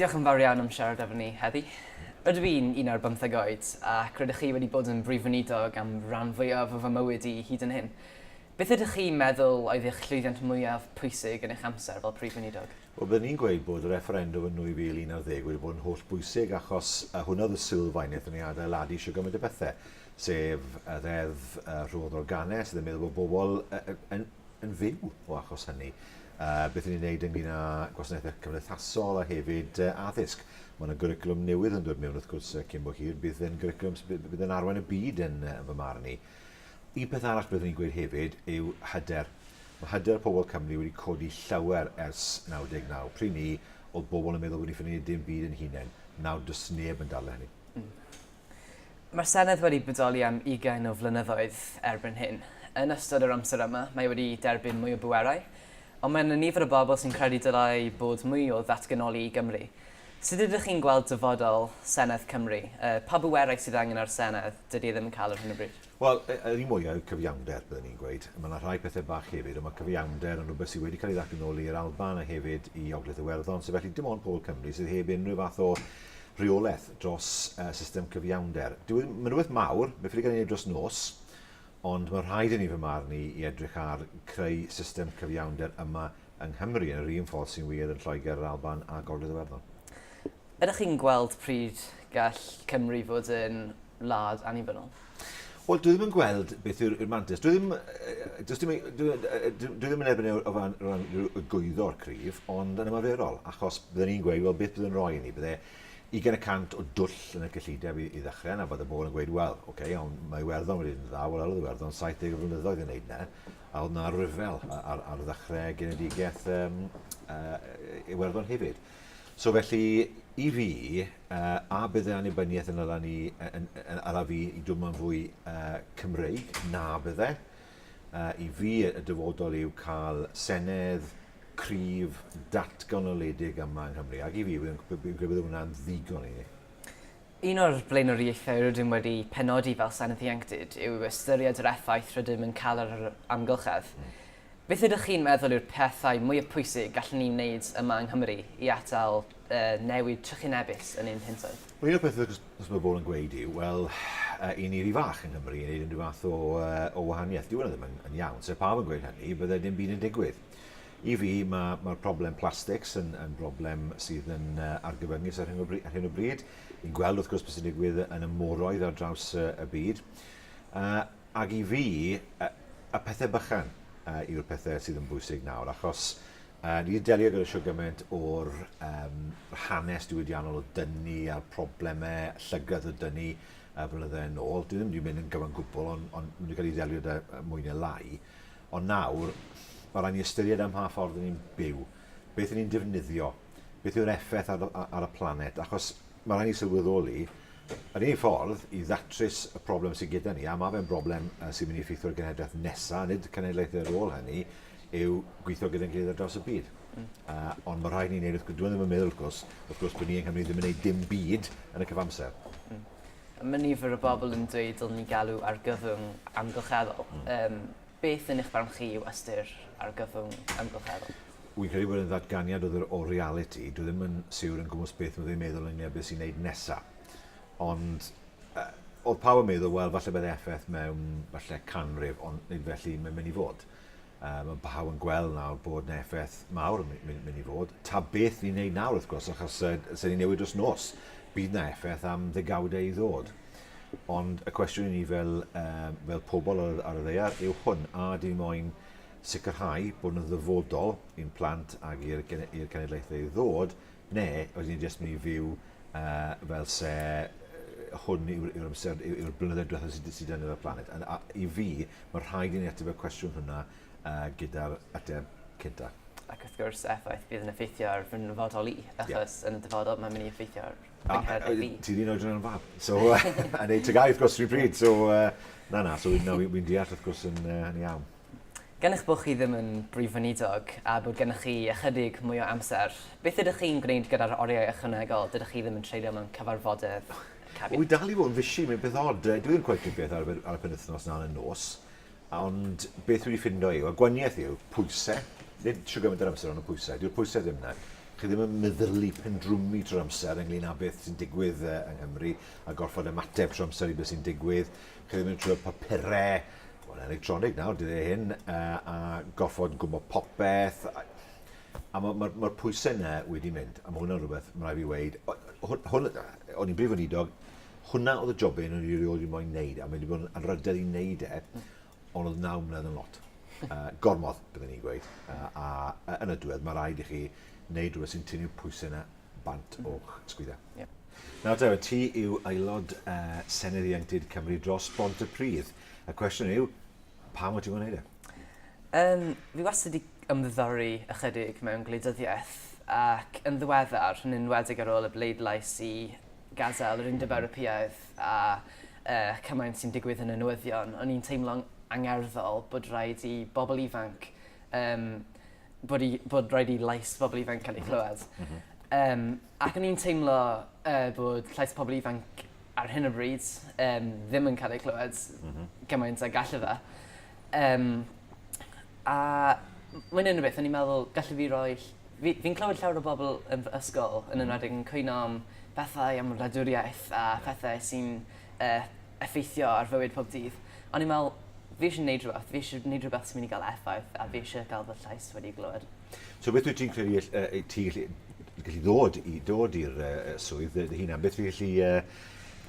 Diolch yn fawr iawn am siarad efo ni heddi. Rydw i'n un ar bymtheg oed, ac rydych chi wedi bod yn Brif Weinidog am ran fwyaf o fy mywyd i hyd yn hyn. Beth ydych chi'n meddwl oedd eich llwyddiant mwyaf pwysig yn eich amser fel Prif Weinidog? Wel, byddwn i'n gweud bod y refferendwm yn 2011 wedi bod yn holl bwysig achos hwnna oedd y sylfaeneth yn ei adeiladu shwt gymaint o bethau, sef y Ddeddf Rhodd Organedd, sydd yn meddwl bod bobl yn yn fyw o achos hynny. Uh, beth ni'n gwneud ynglyn â gwasanaethau cymdeithasol a hefyd uh, addysg. Mae yna gyriclwm newydd yn dod mewn wrth gwrs uh, cyn bo hir. Bydd yn gyriclwm sydd bydd yn arwain y byd yn uh, fy marn i. Un peth arall byddwn i'n gweud hefyd yw hyder. Mae hyder pobl Cymru wedi codi llawer ers 99. Pryd ni, oedd bobl yn meddwl bod ni'n ffynnu dim byd yn hunain. Nawr, does neb yn dal hynny. Mm. Mae'r Senedd wedi bodoli am ugain o flynyddoedd erbyn hyn. Yn ystod yr amser yma, mae wedi derbyn mwy o bwerau, ond mae yna nifer o bobl sy'n credu dylai bod mwy o ddatganoli i Gymru. Sut ydych chi'n gweld dyfodol Senedd Cymru? Pa bwerau sydd angen ar y Senedd? Dydy e ddim yn cael ar hyn o bryd. Wel, y- yr un mwya yw cyfiawnder, byddwn i'n gweud. Mae yna rhai pethau bach hefyd, ond mae cyfiawnder yn rhywbeth sydd wedi cael ei ddathlu nôl i'r Alban a hefyd i Ogledd Iwerddon, so felly dim ond pobl Cymru sydd heb unrhyw fath o reolaeth dros uh, system cyfiawnder. Dyw e ddim, mae'n rhywbeth mawr, mae'n ffili cael ei wneud dros nos, ond mae rhaid i ni fy marn i i edrych ar creu system cyfiawnder yma yng Nghymru yn yr un ffordd sy'n wir yn Lloegr, yr Alban a Gogledd Iwerddon. Ydych chi'n gweld pryd gall Cymru fod yn wlad annibynnol? Wel, dwi ddim yn gweld beth yw'r mantis. Dwi ddim, dwi ddim, dwi, dwi ddim yn erbyn e o ran, ran gwyddor cryf, ond yn ymarferol, achos byddwn ni'n gweud, wel, beth byddwn roi i ni? Bydde 20% o dwll yn y cyllideb i, i ddechrau, na bod y bobl yn gweud, wel, oce, okay, ond mae Iwerddon wedi yn dda, wel, oedd Iwerddon 70 flynyddoedd yn neud na, a oedd na ryfel ar, ar ddechrau genedigaeth um, uh, Iwerddon hefyd. So felly, i fi, a bydd yr annibyniaeth yn ala ni, yn, yn ala fi i dwmlo'n fwy uh, Cymreig? Na, bydd e. Uh, I fi, y dyfodol yw cael senedd cryf datganoledig yma yng Nghymru. Ac i fi, fi'n credu bod hwnna'n ddigon i ni. Un o'r blaenoriaethau rydym wedi penodi fel Senedd Ieuenctid yw ystyried yr effaith rydym yn cael ar yr amgylchedd. Mm. Beth ydych chi'n meddwl yw'r pethau mwyaf pwysig gallwn ni wneud yma yng Nghymru i atal y newid trychinebus yn ein hintoedd? Wel, un o'r pethau os mae bobl yn gweud yw, wel, i ni ry fach yng Nghymru i wneud unrhyw fath o, o wahaniaeth. Dyw hwnna ddim yn, yn iawn. Se pawb yn gweud hynny, bydde dim byd yn digwydd. I fi, mae, mae'r problem plastics yn, yn broblem sydd yn uh, argyfyngus ar hyn, o bryd, ar hyn o bryd. Ni'n gweld, wrth gwrs, beth sy'n digwydd yn y moroedd ar draws uh, y byd. Uh, Ac i fi, y pethau bychan yw'r pethau sydd yn bwysig nawr, achos ni wedi delio gyda siwr gymaint o'r hanes diwydiannol o dynu a'r problemau llygredd o dynu y flynydde yn ôl. Dwi ddim wedi mynd yn gyfan gwbl, ond maen nhw wedi cael ei ddelio da mwy neu lai. Ond nawr, mae rhaid ni ystyried am mha ffordd ni'n byw, beth ni'n defnyddio, beth yw'r effaith ar y planet, achos Mae rhaid ni sylweddoli, yr unig ffordd i ddatrys y problem sydd gyda ni, a mae fe'n broblem sy'n mynd i effeithio'r genhedlaeth nesaf, nid cenedlaethau ar ôl hynny, yw gweithio gyda'n gilydd ar draws y byd. Mm. Uh, ond mae rhaid ni'n neud, wrth gwrs, dwi'n ddim yn meddwl, wrth gwrs, wrth gwrs bod ni yng Nghymru ddim yn neud dim byd yn y cyfamser. Mm. Mae nifer o bobl yn dweud dylwn ni galw ar gyfwng amgylcheddol. Mm. Um, Beth yn eich barn chi yw ystyr argyfwng amgylcheddol? Wi'n credu bod e'n ddatganiad o ddwr o realiti. Dwi ddim yn siwr yn gwmws beth fydde i'n meddwl ynglŷn â beth sy'n wneud nesa. Ond oedd pawb yn meddwl, wel, falle bydd effaith mewn falle canrif, ond nid felly mae'n mynd i fod. Mae pawb yn gweld nawr bod yna effaith mawr yn mynd i fod. Ta beth ni'n wneud nawr, wrth gwrs, achos os ni'n newid dros nos, bydd yna effaith am ddegawdau i ddod. Ond y cwestiwn i ni fel, um, fel pobl ar, ar y ddeiar yw hwn, a di moyn sicrhau bod yn ddyfodol i'n plant ac i'r cenedlaethau i ddod, neu oes ni'n jyst mynd i fyw uh, fel se hwn yw'r yw amser, yw'r yw blynyddoedd diwethaf sydd sy dan y planet. A, a, I fi, mae rhaid i ni ateb y cwestiwn hwnna uh, gyda'r ateb cynta. Ac wrth gwrs, effaith bydd yn effeithio ar fy nyfodol i, achos yeah. yn y dyfodol mae'n mynd i effeithio ar yng nghanol i fi. Ti'n un oedran yn fab. So, yn ei tygau, wrth gwrs, rhywun pryd. So, na, na, so wy'n deall, wrth gwrs, yn iawn. Gan eich bod chi ddim yn Brif Weinidog a bod gennych chi ychydig mwy o amser, beth ydych chi'n gwneud gyda'r oriau ychwanegol dydych chi ddim yn treulio mewn cyfarfodydd cabinet? Wy dal i fod yn fisi, mae'n beth od. Dwi ddim cweit yn beth ar y penwythnos na'n y nos. Ond beth dwi wedi ffindo yw, a gwaniaeth yw, pwyse, nid trwy gymaint yr amser ond y pwyse, dyw'r pwyse ddim yna. Chi ddim yn meddylu pendrwmu trwy'r amser ynglyn â beth sy'n digwydd yy yng Nghymru a gorfod ymateb trwy amser i beth sy'n digwydd. Chi ddim yn trwy'r papure, wel electronig nawr dyddie hyn, yy a gorfod gwybod popeth a a ma' ma'r ma'r pwyse yna wedi mynd a ma' hwnna'n rwbeth ma' rai' fi weud o- yy hwn hwn yy o'n i'n brif weinidog Hwnna oedd y job un o'n i rioed wedi moyn neud, a mae wedi bod yn anrhydedd i neud e, ond oedd naw mlynedd yn lot. Uh, gormod, byddwn i'n gweud. Uh, a uh, yn y diwedd, mae rhaid i chi wneud rhywbeth sy'n tynnu pwysau yna bant o'ch sgwydda. Yeah. Nawr, Dewi, ti yw aelod uh, Senedd Ieuenctid Cymru dros Bont y Pridd. Y cwestiwn yw, pam wyt ti'n gwneud e? Um, fi wastad wedi ymddiddori ychydig mewn gwleidyddiaeth ac yn ddiweddar, yn enwedig ar ôl y bleidlais i gadael yr Undeb Ewropeaidd a y cymaint sy'n digwydd yn y newyddion, o'n i'n teimlo'n angerddol bod rhaid i bobl ifanc, um, bod, i, bod rhaid i lais bobl ifanc cael ei chlywed. Mm -hmm. um, ac o'n i'n teimlo uh, bod llais pobl ifanc ar hyn o bryd um, ddim yn cael ei clywed mm -hmm. gymaint a gallu fe. Um, a mae'n un o beth, o'n i'n meddwl, gallu fi roi Fi, fi'n clywed llawer o bobl yn fy ysgol, yn enwedig yn cwyno am pethau am wladwriaeth a phethe sy'n yy effeithio ar fywyd pob dydd. O'n i'n me'wl fi isie neud rwbeth, fi isie neud rwbeth sy'n myn' i ga'l effaith a fi isie ga'l fy llais wedi glywed. So beth wyt ti'n credu all- yy yy ti gallu gallu ddod i dod i'r yy yy swydd dy dy hunan? Beth fi gallu yy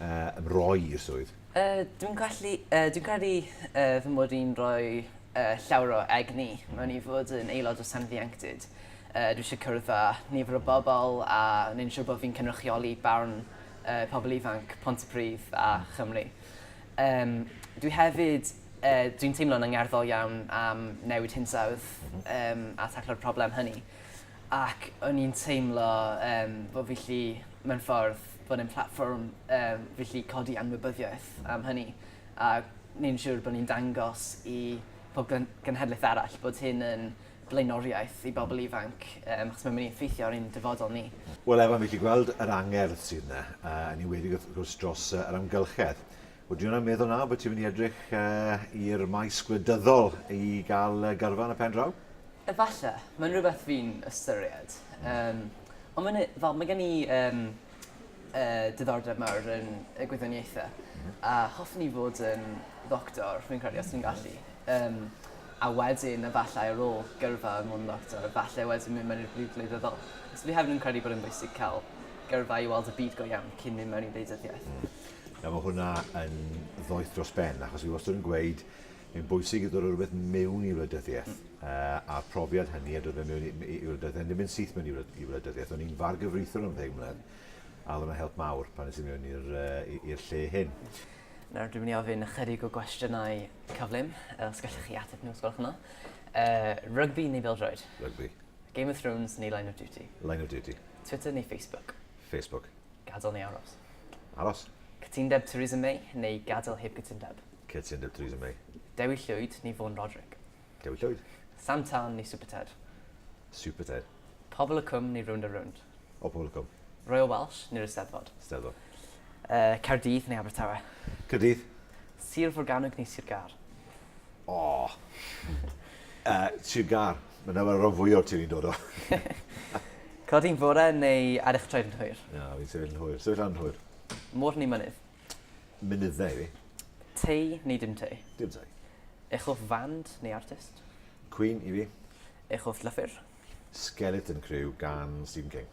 yy ymroi i'r swydd? Yy, dwi'n gallu, yy, dwi'n credu yy, fy mod i'n rhoi yy, llawer o egni mewn i fod yn aelod o Senedd Ieuenctid. Yy, dwi eisiau cwrdd â nifer o bobl a wneud yn siŵr bod fi'n cynrychioli barn yy, pobl ifanc Pontypridd a Chymru. Yym, dwi hefyd, yy, dwi'n teimlo'n angerddol iawn am newid hinsawdd yym, a taclo'r problem hynny. Ac o'n i'n teimlo yym, bod fi 'llu, mewn ffordd, fod yn platfform um, felly codi anwybyddiaeth am hynny. A ni'n siŵr bod ni'n dangos i pob genhedlaeth arall bod hyn yn blaenoriaeth i bobl ifanc, um, achos mae'n mynd i effeithio ar ein dyfodol ni. Wel, Evan, fi wedi gweld yr angerdd sydd yna, uh, yn enwedig wrth gwrs dros uh, yr amgylchedd. Ydw i'n meddwl nawr bod ti'n mynd i edrych i'r maes gwleidyddol i gael gyrfa yn y pen draw? Efallai, mae'n rhywbeth fi'n ystyried. Um, ond mae'n, fel, mae gen i um, uh, diddordeb mawr yn y gwyddoniaethau. Mm -hmm. A hoffwn i fod yn ddoctor, rwy'n credu, os dwi'n gallu. Um, a wedyn, efallai ar ôl gyrfa yn mwyn ddoctor, efallai wedyn mynd mewn i'r byd gwleidyddol. So fi hefyd yn credu bod yn bwysig cael gyrfa i weld y byd go iawn cyn mynd mewn i ddeudyddiaeth. Mm. Nawr mae hwnna yn ddoeth dros ben, achos fi wastad yn gweud, mae'n bwysig i ddod o rhywbeth mewn i wleidyddiaeth, uh, a'r profiad hynny a dod fe mewn i, i, i wleidyddiaeth, ddim yn syth mewn i, i wleidyddiaeth. O'n i'n far gyfreithwr am ddeg mlynedd, a oedd yna help mawr pan nes i mewn i'r uh, lle hyn. Nawr dwi'n mynd i ofyn ychydig o gwestiynau cyflym, os gallwch chi ateb nhw, os gwelwch yna. Uh, rygbi neu bildroed? Rygbi. Game of Thrones neu Line of Duty? Line of Duty. Twitter neu Facebook? Facebook. Gadael neu aros? Aros. Cytundeb Theresa May neu gadael heb gytundeb? Cytundeb Theresa May. Dewi Llwyd neu Vaughan Roderick? Dewi Llwyd. Sam Tân neu Super Ted? Super Ted. Pobl y Cwm neu Rownd a Rownd? O, Pobl y Cwm. Royal Welsh neu'r Eisteddfod? Eisteddfod. Uh, Caerdydd neu Abertawe? Caerdydd. Sir Forgannwg neu Sir Gâr? O! uh, Sir Gâr. Mae dyma rhan fwy o'r ti'n i'n dod o. Codi'n fore neu ar eich trefn hwyr? Na, fi'n sefyll yn hwyr. Sefyll yn hwyr. Môr neu mynydd? Mynyddau fi. Tei neu dim tei? Dim tei. Eich hoff fand neu artist? Queen i fi. Eich hoff llyfr? Skeleton Crew gan Stephen King.